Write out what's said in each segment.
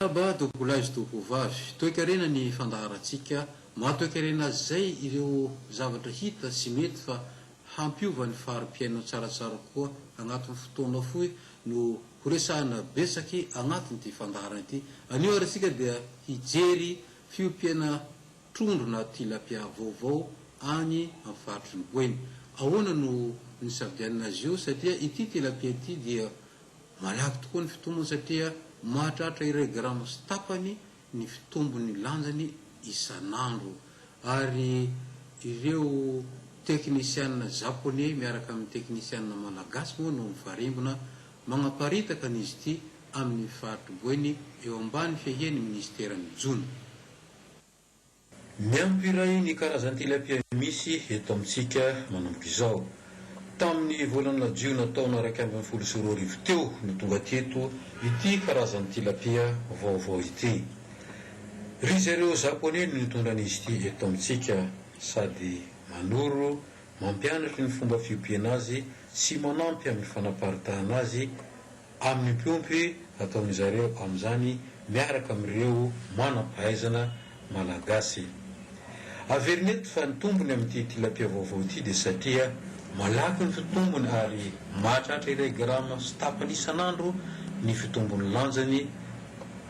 Miarahaba Dogolay sy Dogovavy. Toekarena ny fandaharantsika. Maha toekarena azy izay ireo zavatra hita sy mety fa hampiova ny fari-piainana tsaratsara kokoa agnatin'ny fotoana fohy no horesahina betsaky agnatin'ity fandaharana ity. Anio ary isika dia hijery fiompiana trondro na tilapia vaovao any amin'ny faritry ny Boeny. Ahoana no nisafidianana azy io satria ity tilapia ity dia Malaky tokoa ny fitombony satria mahatratra iray grama sy tapany ny fitombon'ny lanjany isan'andro ary ireo teknisianina Japoney miaraka amin'ny teknisianina Malagasy moa no mifarimbona magnaparitaka an'izy ity amin'ny faritr'i Boeny eo ambany fiahian'ny minisiteran'ny Jono. Miampy iray ny karazan-tilapia misy eto amintsika manomboka izao. Tamin'ny volana jiona taona iraika ambin'ny folo sy roa arivo teo no tonga teto ity karazan'ny tilapia vaovao ity. Ry zareo Japoney no nitondra an'izy ity eto amintsika sady manoro, mampianatry ny fomba fiompiana azy sy manampy amin'ny fanaparitahana azy amin'ny mpiompy ataon'izareo amin'izany miaraka amin'ireo manam-pahaizana malagasy. Averina eto fa ny tombony amin'ity tilapia vaovao ity dia satria malaky ny fitombony ary mahatratra iray grama sy tapany isan'andro ny fitombon'ny lanjany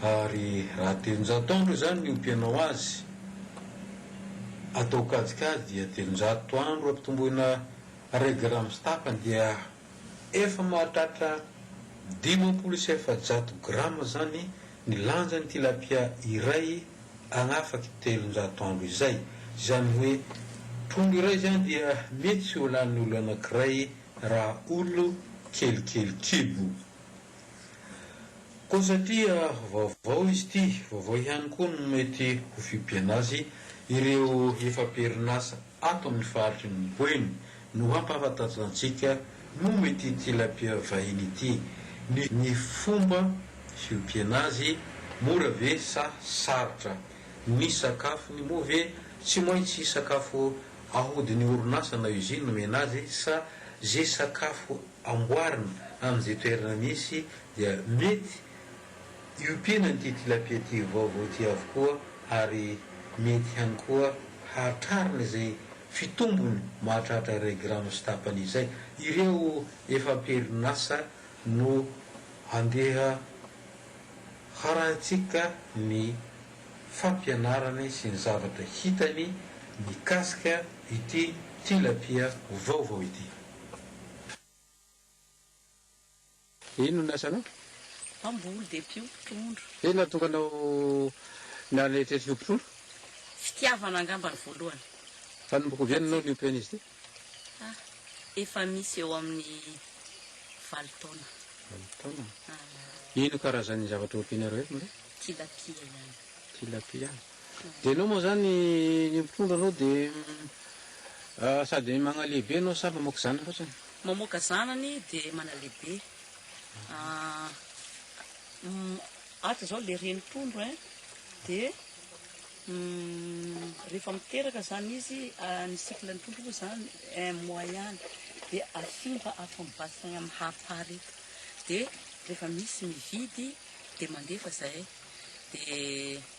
ary raha telonjato andro izany ny ompianao azy atao kajikajy dia telonjato andro ampitomboina iray grama sy tapany dia Efa mahatratra dimampolo sy efajato grama izany ny lanjan'ny tilapia iray agn'afaky telonjato andro izay. Izany hoe trondro iray izany dia mety tsy ho lanin'olo anankiray raha olo kelikely kibo. Koa satria vaovao izy ity, vaovao ihany koa no mety ho fibiana azy ireo efa am-perinasa ato amin'ny faritry ny Boeny no hampahafantatr' antsika momba ity tilapia vahiny ity, ny fomba fiompiana azy, mora ve sa sarotra, ny sakafony, moa ve tsy maintsy sakafo ahodin'ny orinasa na usine omena azy sa ze sakafo amboarina amin'izay toerana misy dia mety hiompiana an'ity tilapia tia vaovao ity avokoa ary mety ihany koa hahatrarana izay fitombony mahatratra iray grama sy tapany izay. Ireo efa am-perinasa no andeha harahintsika ny fampianarany sy ny zavatra hitany mikasika ity tilapia vaovao ity. Inona no asanao? Mpamboly dia mpiompy trondro. Inona no tonga anao naneritreritry hiompy trondro? Fitiavana angamba ny voalohany. Mpanomboka ovy enona ianao niompy an'izy ity? Ah, efa misy eo amin'ny valo taona. Valo taona? Ah. Ino karazan'ny zavatra ompianareo eto Maria? Tilapia ihany. Tilapia ihany. Dia enao moa zany ny mpitondra anao dia sady magnalehibe enao sa mamoaka zanany fotsiny? Mamoaka zanany dia manalehibe. Ato zao le reny mpitondra hein dia rehefa miteraka zany izy ny cycle ny mpitondra moa zany un mois ihany dia afindra ato amin'ny bassin am hafa reto dia rehefa misy mividy dia mandefa zay dia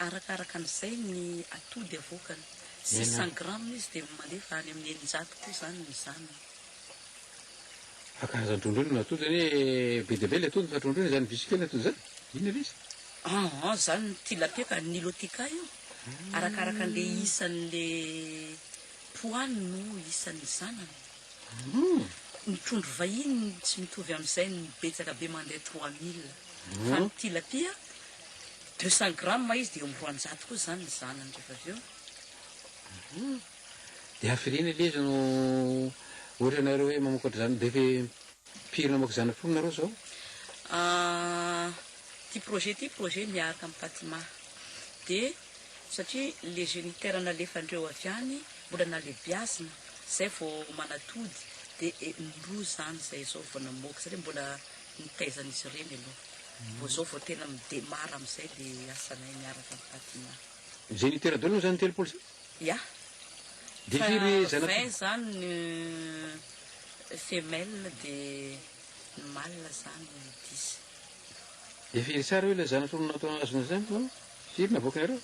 Arakaraka an'izay ny atody avoakany. Six cents grammes izy dia mandefa any amin'ny eninjato koa izany ny zanany. Fa karazana trondro inona no atody zany hoe be dia be ilay atody fa trondro inona izany visy kely atody izany? Inona ilay izy? Ah ah izany ny tilapia ka, ny nilotica io. Arakaraka an'ilay isan'ilay poany no isan'ny zanany. Ny trondro vahiny tsy mitovy amin'izay ny betsaka be mandeha trois mille. Fa ny tilapia Deux cent grammes izy dia eo amin'ny roanjato koa izany ny zanany rehefa avy eo. Hum. Dia hafiriana ilay izy no ohatra ianareo hoe mamokatra zanany be ve mpiry namoaka zanany folo nareo izao? Ah, ity projet ity projet miaraka amin'i Patima. Dia satria ilay géniteur nalefandreo avy any mbola nalebiazina, izay vao manatody, dia eh, indroa izany izay izao vao namoaka satria mbola nitaizan'izy ireny aloha. Vao zao vao tena midemara amizay le asanay miaraka am Fatima. Zay nitera-doha-na zany telopolo zany? Ya. Dia firy Fa zanaka? vingt zany ny femelle dia ny mâle zany dix. Dia firy tsara hoe ilay zana-tolona atao azona zany no firy navoakanareo?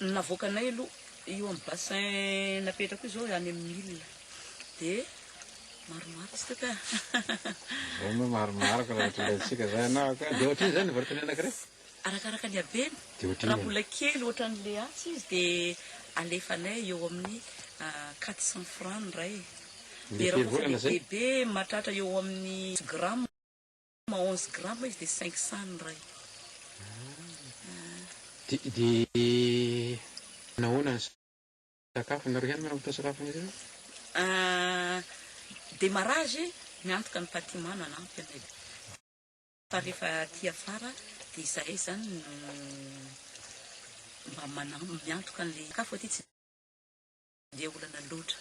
Ny navoakanay aloha io am bassin napetrako io zao any am mille dia. Marimariko tsy tiko eh. Vao moa marimariko raha ohatry ilay tsika zay ianao ka. Dia ohatrinona izany ny varoton'ny anankiray? Arakaraka ny habeny. Dia ohatrinona? Raha mbola kely ohatran'ny leatsy izy dia alefanay eo amin'ny quatre cents francs ny iray. Dia raha ohatra ilay bebe mahatratra eo amin'ny dix grammes na onze grammes izy dia cinq cents ny iray. Dia nahoana ny Sakafo nareo ihany manambotra sakafo anareo eo? Ahh demarrage miantoka ny patimano hanampy anay fa rehefa aty afara dia izahay izany no mba manam miantoka an'ilay sakafo aty tsy dia olana loatra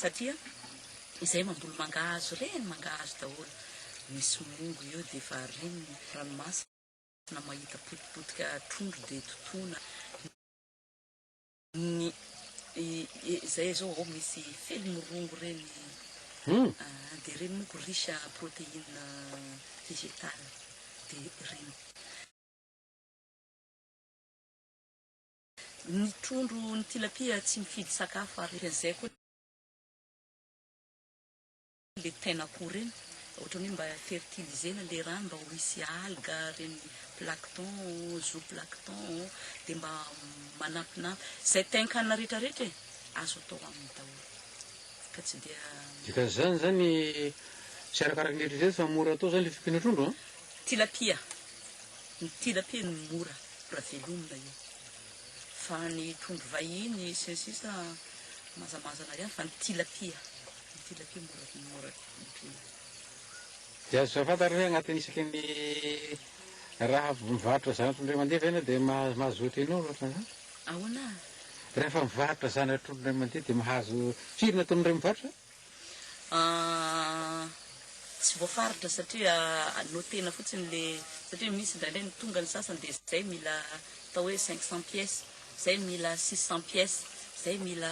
satria izahay mamboly mangahazo ireny mangahazo daholo misy mongo eo dia efa reniny ranomasina mahita potipotika trondro dia totoina Ny izay zao ao misy felimirongo reny an, de reny moko riche à proteine vegetale de reny. Ny trondro, ny tilapia tsy mifidy sakafo ary ohatr'izay koa. le tena akoho reny ohatrany hoe mba fertilizena le rano mba ho hisy alga reny plankton zoo plankton de mba manampinampy zay tenkanina rehetra rehetra e azo atao aminy daholo ka tsy dia Dikan'izany zany tsy arakaraky ny eritrereto fa mora atao zany le fiompiana trondro an? Tilapia, ny tilapia no mora mora velomina io fa ny trondro vahiny sy ny sisa mazamazana ihany fa ny tilapia. Dia azo fantatra hoe agnatin'ny isaky ny raha mivarotra zanatr'olona iray mandeha ve ianao dia mahazo ohatran'inona ohatran'izany? Ahoana? Rehefa mivarotra zanatr'olona iray mandeha dia mahazo firy ny ataon'ireo mivarotra? Tsy voafaritra satria notena fotsiny le satria misy indraindray ny tonga ny sasany dia zay mila atao hoe cinq cents pièces, zay mila six cents pièces, zay mila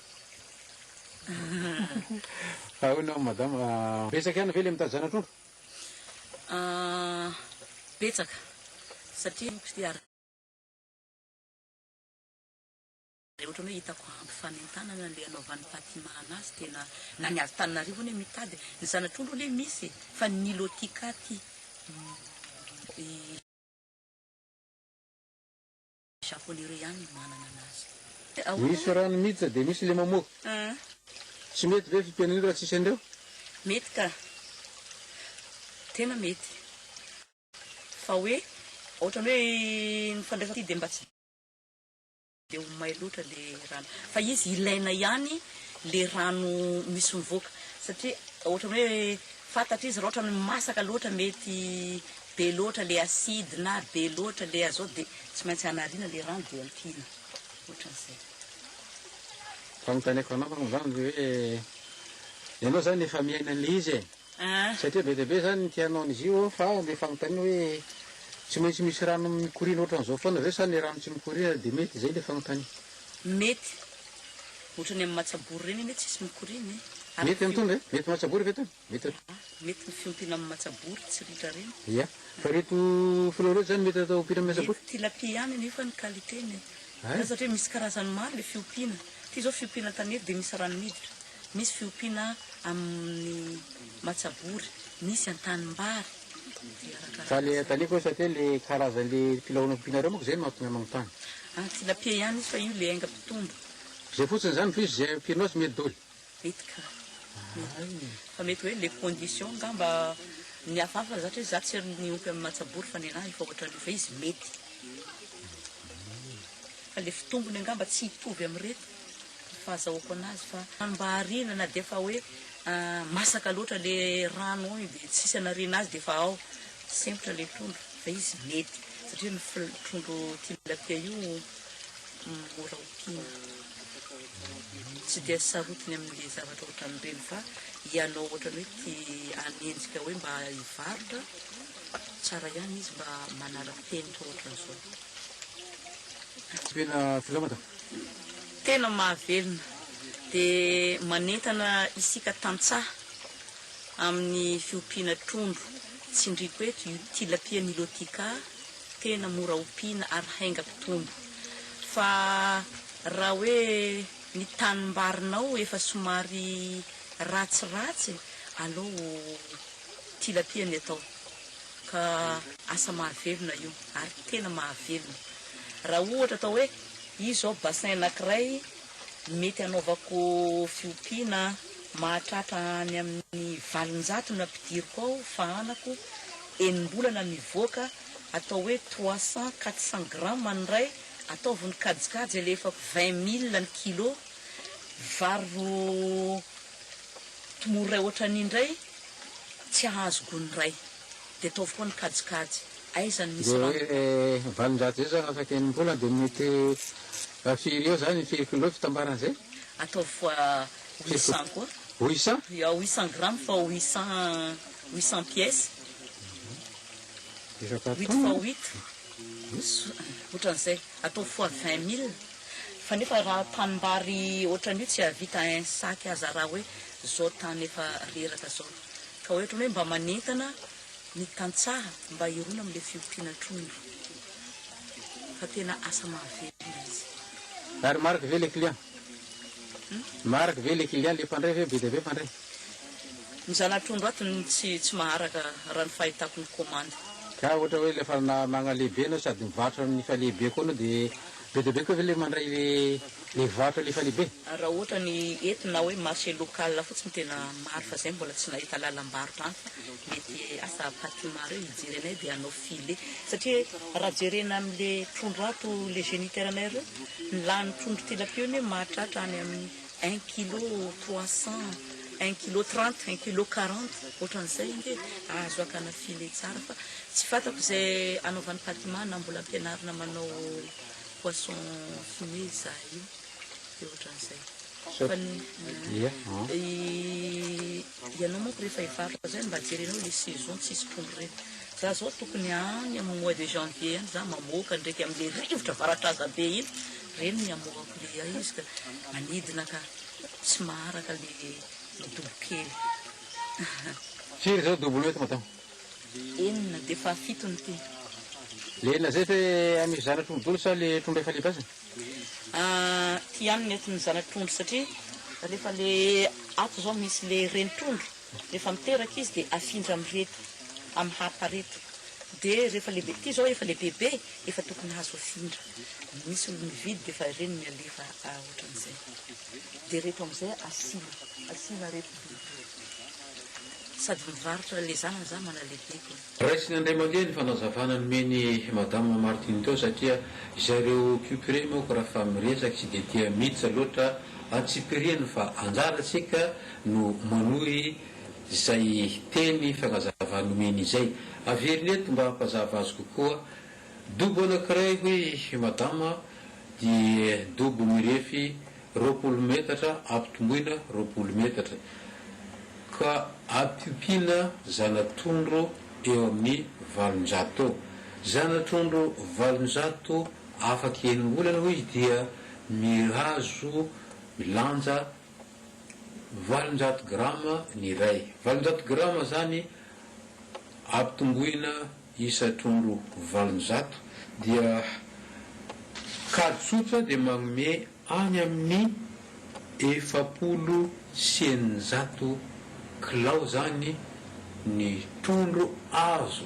Ahoana hono madama, betsaka ihany ve le mitady zana-trondro? Betsaka satria moko ity ary. Ohatran'ny hoe hitako ampy fanentanana le anaovan'i Patima anazy tena na ny avy Tananarivo anie mitady, ny zana-trondro anie misy e fa ny Nilotica ty. Japonero ihany no manana anazy. Misy rano miditra dia misy le mamoaka. Tsy mety ve fipiana io raha tsisy an'ireo? Mety ka. Tena mety. Fa hoe ohatrany hoe ny fandraisana ity dia mba tsy dia ho may loatra le rano. Fa izy ilaina ihany le rano misy mivoaka. Satria ohatrany hoe fantatra izy raha ohatrany masaka loatra mety be loatra le acide na be loatra le azote dia Tsy maintsy hanariana le rano dia ampiana. Otran'izay. Fanontaniako anao angamba hoe ianao zany efa miaina an'le izy e. Ah. Satria be dia be zany ny tianao an'izy io ao fa le fanontaniana hoe tsy maintsy misy rano mikoriana otran'izao foana ve sa ny rano tsy mikoriana dia mety zay le fanontaniana. Mety. Otrany amin'ny matsabory ireny anie tsisy mikoriana e. Mety amin'itony ve? Mety matsabory ve itony? Mety atao. Mety ny fiompiana amin'ny matsabory tsy ritra reny. Ia. Fa ireto filao ireto izany mety atao ompiana amin'ny matsabory? Mety tilapia ihany anie fa ny qualité-ny e. Hay. Satria misy karazany maro ilay fiompiana. Ity izao fiompiana an-tanety dia misy rano miditra. Misy fiompiana amin'ny matsabory, misy an-tanimbary. Dia arakaraka Fa ilay izay. an-tanety koa sa te ilay karazan'ilay filao nampianareo manko izay no mahatonga ahy manontany. Any tilapia ihany izy fa io ilay enga mpitombo. Izay fotsiny izany fa izy izay ampianao tsy mety doly. Mety ka. Fa mety hoe le condition angamba ny hafa hafa zatra hoe za tsy ry niompy amin'ny matsabory fa nenaha efa ohatran'io fa izy mety. Fa le fitombony angamba tsy hitovy amin'ireto ny fahazahoako anazy fa mba hariana na dia efa hoe masaka loatra le rano ao iny dia tsisy anariana azy dia efa ao. Sempotra le trondro fa izy mety satria ny fl- trondro tilapia io mora ompiana. Tsy dia sarotiny amin'ilay zavatra ohatran'ireny fa ianao ohatran'ny hoe te hanenjika hoe mba hivarotra, tsara ihany izy mba manara-penitra ohatran'izao. Tena filamatra. Tena mahavelona dia manentana isika tantsaha amin'ny fiompiana trondro. Tsindriako eto io tilapia nilotica. tena mora ompiana ary hainga mpitombo fa raha hoe ny tanimbarinao efa somary ratsiratsy aleo tilapia ny atao ka asa mahavelona io ary tena mahavelona raha ohatra atao hoe izy zao bassin anakiray mety anaovako fiompiana mahatratra any amin'ny valonjato ny ampidiriko ao fahanako enim-bolana mivoaka atao hoe trois cents, quatre cents grammes ny iray, ataovy ny kajikajy alefako vingt mille ny kilo, vary ro tmoro iray ohatran'iny indray tsy ahazo gony iray dia ataovy koa ny kajikajy, aiza no misy rano ka. Dia valonjato izay zany afaka enim-bolana dia mety firy eo zany, firy kilo fitambaran'izay? Ataovy fois Huitcent koa. Huitcent? Ya, huitcent grammes fa huitcent, huitcent pièces. Huit fois huit, ohatran'izay. Atao fois vingt mille. Fa nefa raha tanimbary ohatran'io tsy hahavita un sac aza raha hoe izao tany efa reraka izao. Ka ohatran'ny hoe mba manentana ny tantsaha mba hirona amin'ilay fiompiana trondro. Fa tena asa mahavelona izy. Ary marc ve ilay client? Marg ve le kilian le mpandray ve be dia be mpandray. Ny zanatrondro ato no tsy tsy maharaka raha ny fahitako ny commande. Ka ohatra hoe rehefa magnalehibe enao sady mivarotra amin'ny falehibe koa enao dia be dia be koa ve ilay mandray le le varotra le falehibe? Raha ohatra ny eto na hoe marché local fotsiny tena maro fa zay mbola tsy nahita lalam-barotra any fa mety asa Patimar eo hijery anay dia hanao filet satria raha jerena amin'ny le trondro ato le géniteur anay ireo Ny lanin'ny trondro tilapia anie mahatratra any amin'ny un kilo trois cent, un kilo trente, un kilo quarante, ohatran'izay ange azo hakana filet tsara fa tsy fantako izay anaovan'i Patima na mbola ampianarina manao poisson fumé za io dia ohatran'izay fa ny Ianao manko rehefa hivarotra zay mba jerenao le saison tsisy mpolo ireny. Za zao tokony any amin'ny mois de janvier any za mamoaka ndraiky amle rivotra varatraza be iny reny ny amoako le ay izy ka manidina ka tsy maharaka le dobo kely. Firy zao dobonao eto Matam? Enina dia fahafito ny tena. Le enina zay ve an'io zanatro midolo sa le trondro efa libasana? Aty ihany ny atin'ny zana-trondro satria rehefa le ato izao misy le reni-trondro rehefa miteraka izy dia afindra amin'ireto amin'ny harpa ireto dia rehefa lehibe ity izao efa lehibebe efa tokony azo afindra misy olona mividy dia efa ireny ny alefa ohatran'izay dia ireto amin'izay asiana asiana ireto biby ireto sady mivarotra le zanany za manalehibe koa Raisin' Andriamandeha ny fanazavana nomen' i Madame Martine teo satria izay ireo Cucurés manko raha fa miresaka tsy dia tia Mitsa loatra antsipiriany fa anjarantsika no manohy izay teny fanazavana nomeny izay. Averino eto mba hampazava azy kokoa. Dobo anankiray hoy i Madama. dia dobo mirefy roapolo metatra ampitomboina roapolo metatra ka ampiompiana zana-trondro eo amin'ny valonjato. Zana-trondro valonjato afaka enim-bolana hoy izy dia mihazo milanja valonjato grama ny iray. Valonjato grama izany ampitomboina isa trondro valonjato dia kajy tsotra dia manome any amin'ny efapolo sy eninjato kilao izany ny trondro azo